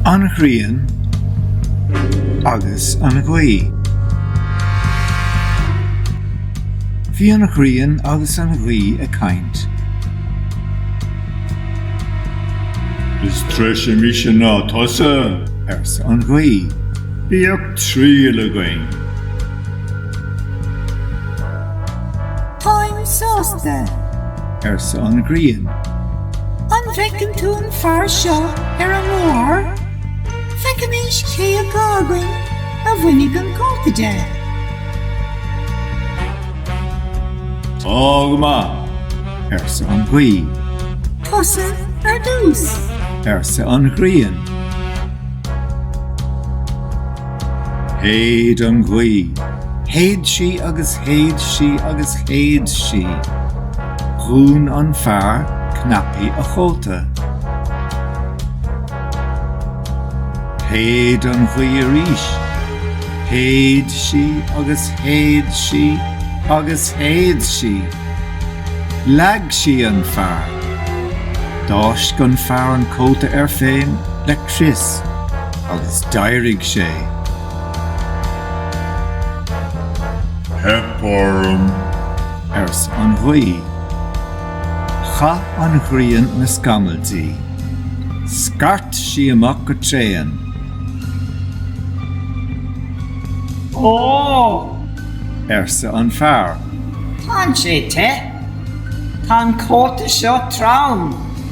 An ghrian agus an ghaoth. Bhí an ghrian agus an ghaoth ag caint. Is treise mise ná tusa, arsa an ghaoth. Bíodh triail againn. Táim sásta, arsa an Ghrian. An bhfeiceann tú an fear seo ar an mbóthar? Feicimís cé acu againn a bhainfidh an cóta de. Tá go maith, arsa an Ghaoth. Tusa ar dtús, arsa an Ghrian. Shéid an ghaoth. Shéid sí agus shéid sí agus shéid sí. Dhún an fear cnaipí a chóta. Shéid an ghaoth arís. Shéid sí agus shéid sí agus shéid sí. Leag sí an fear. D'fháisc an fear an cóta air féin le crios. Agus d'éirigh sé. Theip orm. ars' an ghaoth. Chaith an ghrian na scamaill di. Scairt sí amach go tréan. Ó! arsa an fear. Tán sé te. Tá an cóta seo trom.